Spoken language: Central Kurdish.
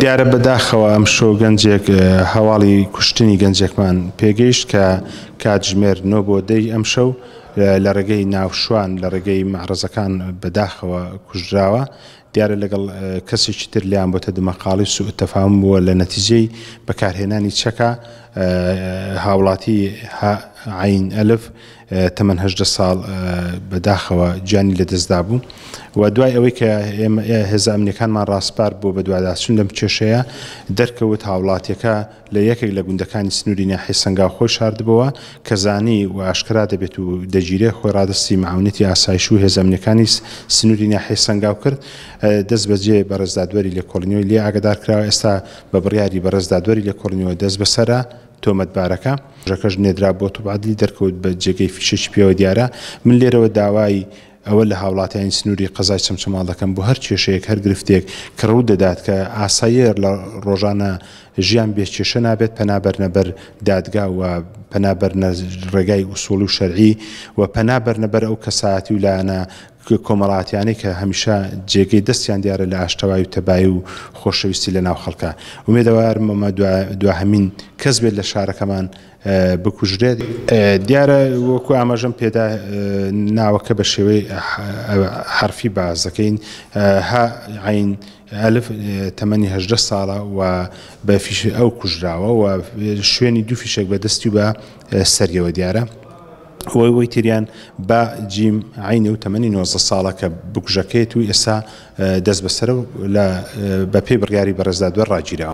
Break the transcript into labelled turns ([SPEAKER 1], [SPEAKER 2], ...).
[SPEAKER 1] دیارە بەداخەوە ئەم شۆ گەنجێک هەواڵی کوشتنی گەنجێکمان پێگەیشت کە کاتژمێر نۆ بۆ دەی ئەم شەو لە ڕێگەی ناوشوان لە ڕێگەی مەعرەزەکان بەداخەوە کوژراوە دیارە لەگەڵ کەسێکی تر لێیان بۆتە دمەقاڵی سوء تفاهم بووە لە نەتیجەی بەکارهێنانی چەکە هاوڵاتی ه عەین ئەلف تەمەن هەژدە ساڵ بە داخەوە گیانی لە دەستدا بوو و دوای ئەوەی کە هێزە ئەمنیەکانمان ڕاسپارد بۆ بەدواداچون لەم کێشەیە دەرکەوت هاوڵاتیەکە لە یەکێک لە گوندەکانی سنووری ناحیەی سەنگاو خۆی شاردبۆوە، کە زانی و ئاشکرا دەبێت و دەگیرێت، خۆی ڕادەستی مەعونەتی ئاسایش و هێزە ئەمنییەکانی سنووری ناحیەی سەنگاو کرد، دەستبەجێ بەڕێز دادوەری لێکۆڵینەوەی لێ ئاگادار کراوە، ئێستا بە بڕیاری بەڕێز دادوەری لێکۆڵینەوە دەستبەسەرە تۆمەتبارەکە. کەژەکەش نێدرا بۆ توب عەدلی، دەرکەوت بە جێگەی فیشەکی پێوە دیارە، من لێرەوە داوای ئەوە لە هاوڵاتیانی سنووری قەزای چەمچەماڵ دەکەم بۆ هەر کێشەیەک هەر گرفتێک کە ڕوو دەدات کە ئاساییە لە ڕۆژانە ژیان بێ کێشە نابێت پەنا بەرنە بەر دادگا و پەنا بەرنە ڕێگای ئوسوڵی و شەرعی و پەنا بەرنە بەر ئەو کەسایەتی و لایەنە کۆمەڵاتیانەی کە هەمیشە جێگەی دەستیان دیارە لە ئاشتەوایی و تەبایی و خۆشەویستی لە ناو خەڵکا ئومێدەوارم ئەمە دواهەمین کەس بێت لە شارەکەمان بکوژرێت، دیارە وەکو ئاماژەم پێدا ناوەکە بە شێوەی حەرفی باس دەکەین، ه عەین ئەلف، تەمەنی هەژدە ساڵە و بە فیشەک ئەو کوژراوە و شوێنی دوو فیشەک بە دەستی و بە سەریەوە دیارە. ئەوەی ئەوەی تریان، با جیم عەین، و تەمەنی نۆزدە ساڵە کە بکوژەکەیەتی و ئێستا دەستبەسەرە و بەپێی بڕیاری بەڕێز دادوەر ڕاگیراوە.